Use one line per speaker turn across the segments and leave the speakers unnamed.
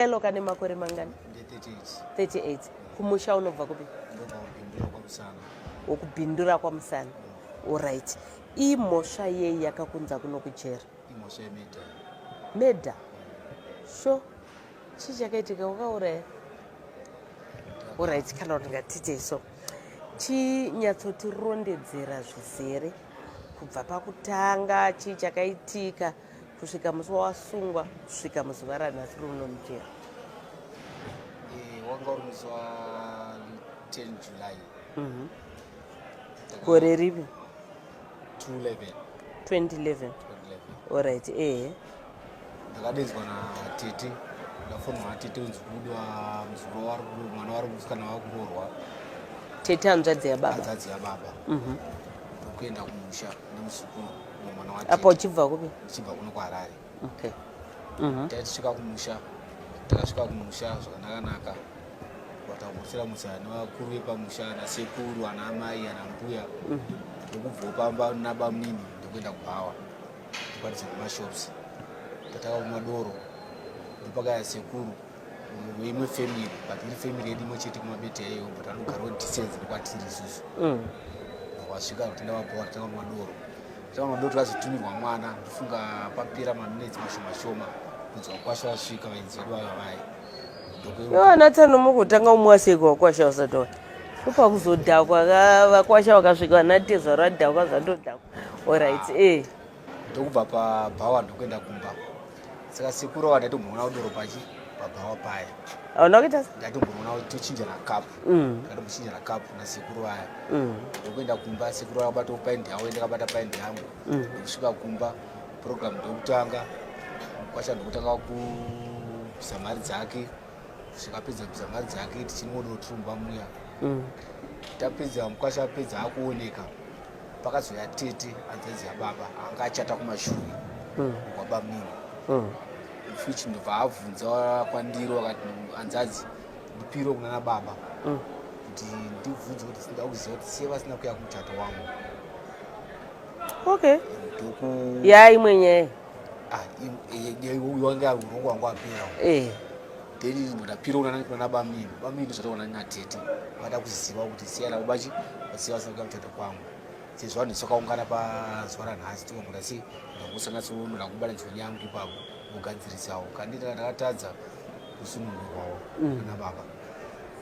Elo kane makore mangani? 38. Kumusha unobva kupi? Wokubindura kwaMusana. Alright. Imhosva yei yakakunza kuno kujera? Imhosva yemeda.
Meda?
Sho. Chii chakaitika wakauraya? Alright, kana kuti ngatite so. Chinyatsotirondedzera zvizere kubva pakutanga chii chakaitika? kusvika musi wawasungwa kusvika muzuva ranhasi runo mujeri eh,
wanga uri musi wa 10 july mhm.
gore ripi 2011 2011
orit
ehe
ndakadedzwa natete ndafonwa atete unzi kudwa muzukuru mwana wari musikana wakuroorwa tete
hanzvadzi yababa hanzvadzi yababa
mhm. ndokuenda kumusha nemuzukuru mwana wake apo uchibva kupi
uchibva kuno kwaharare okay mhm. tatisvika
kumusha takasvika kumusha zvakanakanaka vatakumusira musha nevakuru vepamusha anasekuru ana amai ana mbuya mhm. ndokubva pamba nabamunini ndokuenda kubhawa ndokwanisa kumashops tataka kumadoro ndopakaya sekuru imwe family but iri family yedu imwe chete kumabete yayo but anogarawo distance nekwatiri isusu mm. wasvika kutenda vabowa tanga madoro tanga madoro takazotumirwa mwana ndofunga papera maminetsi mashoma shoma kunzwa kwasha vasvika vainzi vedu vava vaye
anatsano mukutanga umwe aseko wakwasha wasatoa ndopakuzodhakwa vakwasha vakasvika vanatezvaro adhakwa zvatodhakwa orit e eh. ndokubva
pabhawa ndokuenda kumba saka sekuru ava ndaitomboona kudoro pachi pabhawa paye unokuita
ndaitomboona tochinjana
kapu mm. ndakatombochinjana kapu nasekuru vaya mm. ndokuenda kumba sekuru vaya kubatawo paindi yavo ndakabata paindi yangu mm. ndokusvika kumba program ndokutanga kwacha ndokutanga kubvisa mari dzake zvikapedza kubvisa mari dzake tichinimodotrumba muya tapedza mukwasha apedza akuoneka pakazouya tete hanzenzi yababa anga achata kumashure mm. kwaba mimi mm. fuch ndobva abvunza kwandiro akati hanzadzi ndipiro kunana baba mm. kuti ndibvunze kuti sinoda kuziva kuti siye vasina kuya kumuchato wangu
okay yaa imwe nyaya ah, yaiwanga
urongwa wangu apera eh. then ndapira kunana kunana bamini bamini ndozvataona natete vada kuziva kuti siya lavo bachi vaziva vasina kuda kutata kwangu sezvo vanhu sakaungana pazuva ranhasi tikamboda sei ndakusanatsonoda kubala nzoni yangu ipapo kugadzirisawo kandi ndakatadza kusunungurwawo mm. ana baba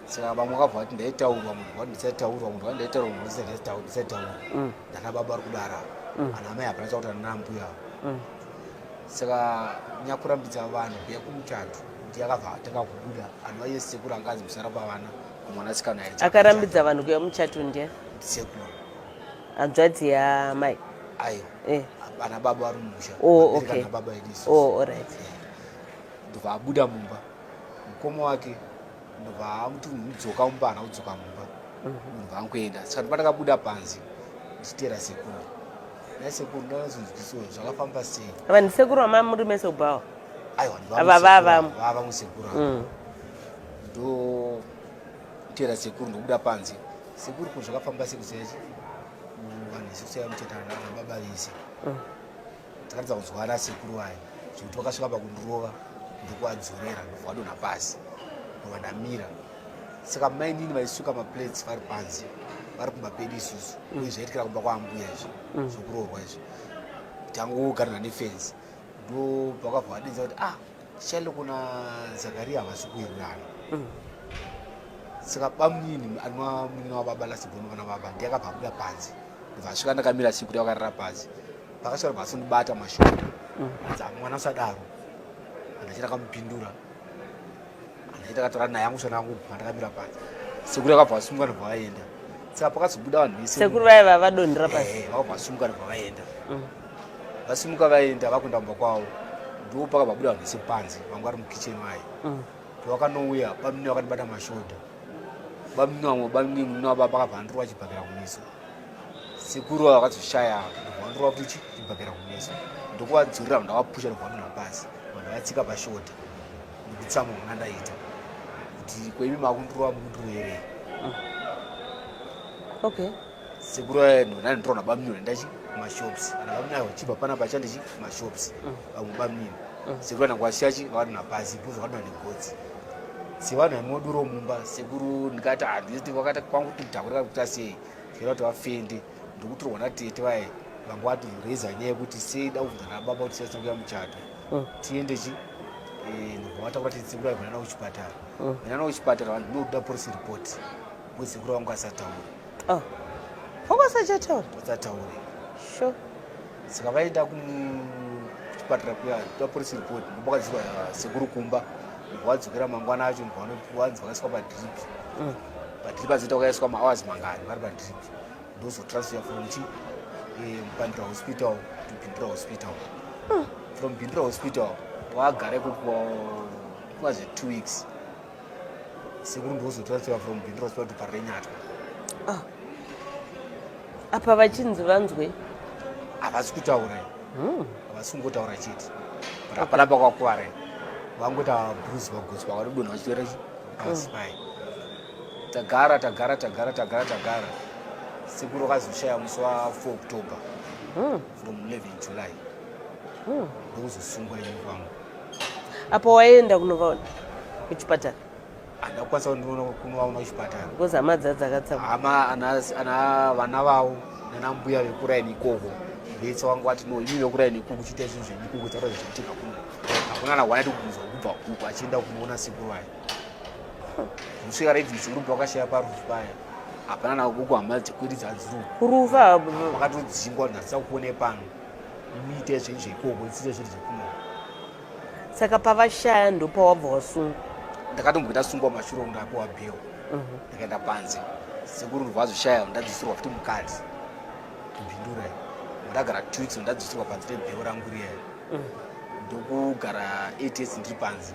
saka vamwe vakabva vati ndaitaurwa munhu vati ndisataurwa munhu vati ndaitaurwa munhu ndisataurwa mm. ndana baba vari kudara mm. ana amai hapana chakuti anana mbuya avo saka nyakurambidza vanhu kuya kumutatu kuti yakabva atanga kubuda anhu vaiye sekuru anga anzi musara pavana kumwanasikana akarambidza vanhu kuya
muchato ndiya sekuru
hanzvadzi
yamai aiwa
eh. ana baba vari mumusha oh, okay. baba
ediso oh,
alright eh. ndobva abuda mumba mukoma wake ndobva amuti mudzoka mumba ana kudzoka mumba ndobva mhm. ankuenda saka ndobva ndakabuda panzi ndichiteera sekuru Naisekuru ndakazonzwisiswa zvakafamba sei. Ava ndisekuru vamai
muri meso bhawa. Aiwa
ava vava vava musekuru. Mm. Ndo tera sekuru ndokuda panze. Sekuru ko zvakafamba sei kusechi. Vanhu sikuseya mutetana na baba vese. Mm. Takatadza kuzwana sekuru vaya. Zvekuti vakasvika pakundirova ndokuwadzorera ndokwadonha pasi. Ndokwadamira. saka mainini vaisuka maplates vari panze vari kumba pedu isusu mm. uye zvaitikira kumba kwaambuya izvi mm. zvokuroorwa izvi tangogarana nefenzi ndo pakabva vadinza kuti ah chalo kuna zakariya havasi kuwirirana mm. saka bamunini anwa munini wababa lasibhono vana baba ndiyakabva abuda panze vasvika ndakamira siku kuti vakarara panze vakasvika kuti vasindibata mashoko anza mwana usadaro andachiramupindura Andai takatora naye yangu shana yangu pandakamira paya. Sekuru akabva asumuka ndobva vaenda. Saka pakazobuda vanhu vese. Sekuru vaya vava vadonhera
pasi. Eh, vakabva asumuka ndobva vaenda.
Mm. Vasimuka vaenda vakuenda kumba kwavo. Ndipo pakabva buda vanhu vese panze vanga vari mukitchen vaye. Mm. Pakanouya bamnini vakandibata mashoda. Bamnini vamwe bamnini munini wababa vakabva andirova chibhakera kumeso. Sekuru vava vakazoshaya ndobva vandirova kuti chibhakera kumeso. Ndokuvadzurira ndavapusha ndobva vanhu vapasi. Vanhu vatsika pashoda. Nditsamwa muna ndaita kuti kwaimi makundirova mukuti uerei. Ah.
Okay. Sekuru eno
nani ndrona bamnyo ndachi mashops. Ana bamnyo ayo chiba pana pacha ndichi mashops. Ah. Bamwe bamnyo. Ah. Sekuru ana kwashachi vana na pasi buzo vana ni gotsi. Sevana imoduro mumba sekuru ndikati handiti wakati kwangu kutakura kuti sei. Kira kuti vafendi ndikuti rona tete vaye vangwati reza nyaya kuti sei da kuvhara baba kuti sasa kuya muchato. mm. tiende chi eh, ndobvamata kuti titsikura vana navo kuchipatara mm. vana navo kuchipatara vanhu ndinokuda police report mutsikura wangu asataure ah. wangu asachataure asataure sure saka vaenda kuchipatara kuya toda police report ndobakadzirwa eh, sekuru kumba ndobvadzokera mangwana acho ndobvanzi vakaiswa padrip mm. padrip azoita vakaiswa mahours mangani vari padrip ndozotransfer from chi eh, bandra hospital to bindra hospital hmm. from bindra hospital waagare kukuva zve two weeks sekuru ndozotransfer from bindra hospital to parenyatwa ah.
apa vachinzi vanzwe havasi
kutaura hmm. havasi kungotaura chete but hapana pakwakuvarai vangoita bruce vagosi vakanodonha vachitoera asi mm. pai tagara tagara tagara tagara tagara sekuru akazoshaya musi wa 4 october hmm. from 11 july hmm. ndokuzosungwa ini kwangu apo
waienda kunovaona kuchipatara handa
kukwanisa kunovaona kuchipatara because hama dzadzakatsamu
hama
ana vana vavo nana mbuya vekuraini ikoko vetsa wangu wati no imi vekuraini ikuku kuchiita izvinhu zvedikuku dzakazvichiitika kuno hakuna na wanati kubvunzwa kubva kuku achienda kunoona sekuru ayo kusvika raidzisi ruva wakashaya parufu paya hapana navo kuku hama dzekwiridza dziruu ruva
vakatodzingwa
ndatisa kuone pano muite zvinhu zveikoko isite zvinhu zvekuno
saka pavashaya ndopawabva wasungwa ndakatomboita
sungwa mashuro ndapiwa bheo mhm. ndakaenda panze sekuru ruva azoshaya ndadzisirwa futi mukati kumbindura ndagara two weeks ndadzisirwa panze rebheo rangu riya mhm. ndokugara eight years ndiri panze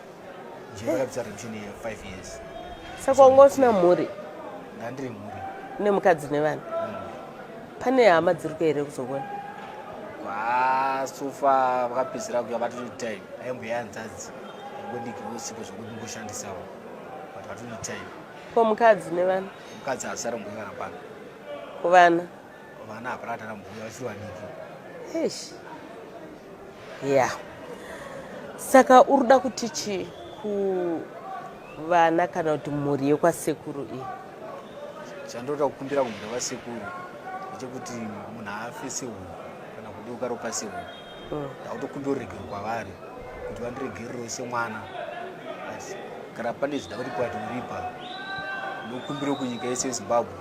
saka wanga
usina mhuri ndandiri mhuri
une mukadzi nevana
mm. pane hama dziri kuya here kuzokona kwasofa
vakapedzera kuya vatoti time aimbuya hanzadzi angoniki vosipo zvokuti ngoshandisawo but vatoti time ko mukadzi
nevana mukadzi haasara mbuya
kana pano kuvana
vana
hapana atana mbuya vachiri vadiki eish
ya saka uri kuda kuti chii kuvana kana kuti mhuri yekwasekuru iyi
chandoda kukumbira kumhuri vasekuru ndechekuti munhu afe sehuku kana kudeuka ropa sehuku mm. ndautokumbira ruregerero kwavari kuti vandiregererewo semwana asi kana pane zvida kuti kwati uripa ndokumbira kunyika yese yezimbabwe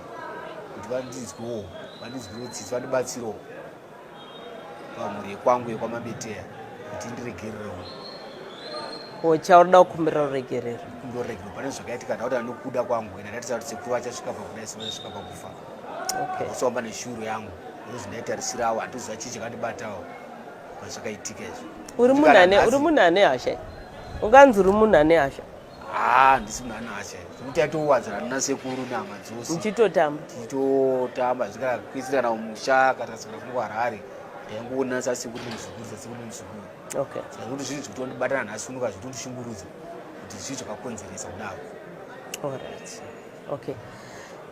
kuti vandinzwewo vandinzwirewo tsitsi vandibatsirewo pamhuri yekwangu yekwamabeteya kuti ndiregererewo
chaurida kukumbira ruregerero kumbira ruregerero pane
zvakaitika ndauti anokuda kwangu ena ndatiza kuti sekuru vachasvika pakuda isu vachasvika pakufa okay. kusomba neshuru yangu ndozi ndaitarisirawo handiziva chii chakandibatawo pazvakaitika izvo uri munhu ane uri
munhu ane hasha unganzi uri munhu ane hasha haa ah, ndisi munhu
ane hasha zvekuti yatowadzana nina sekuru nama dzose ndichitotamba ndichitotamba
zvikana kuisirana
musha kana sikana kunge harare ndaingoona sasekuru nemuzukuru sasekuru nemuzukuru okay zvekuti
zvinhu zvekuti
wandibatana nhasi unoka zvekuti ndishungurudza kuti zvii zvakakonzeresa kudaro all right
okay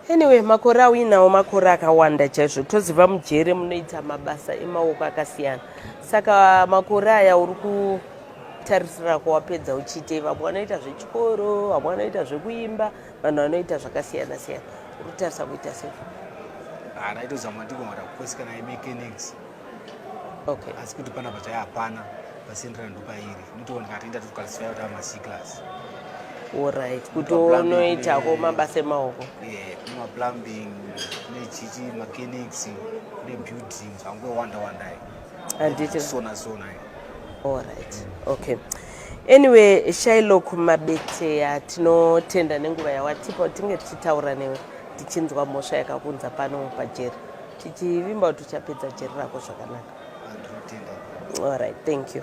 anyway makore auinawo makore akawanda chaizvo toziva mujere munoita mabasa emaoko akasiyana saka makore aya uri kutarisira kwawapedza uchiitei vamwe vanoita zvechikoro vamwe vanoita zvekuimba vanhu vanoita zvakasiyana siyana uri kutarisa kuita sei ah,
ndaitozama ndikomara kukosikana imechanics
okay. asi kuti pana pachaya
hapana pasendera ndopairi nitoona kati inda tikukalisifayo kuti amasiklas orit
kuti unoitako mabasa emaoko kumaplumbing
kune chichi mechanics kune building zvangowanda wandai handiti
sona sona
orit
okay anyway shailok mabeteya tinotenda nenguva yawatipa tinge tichitaura newe tichinzwa mhosva yakakunza pano pajeri tichivimba kuti tichapedza jeri rako zvakanaka allright thank you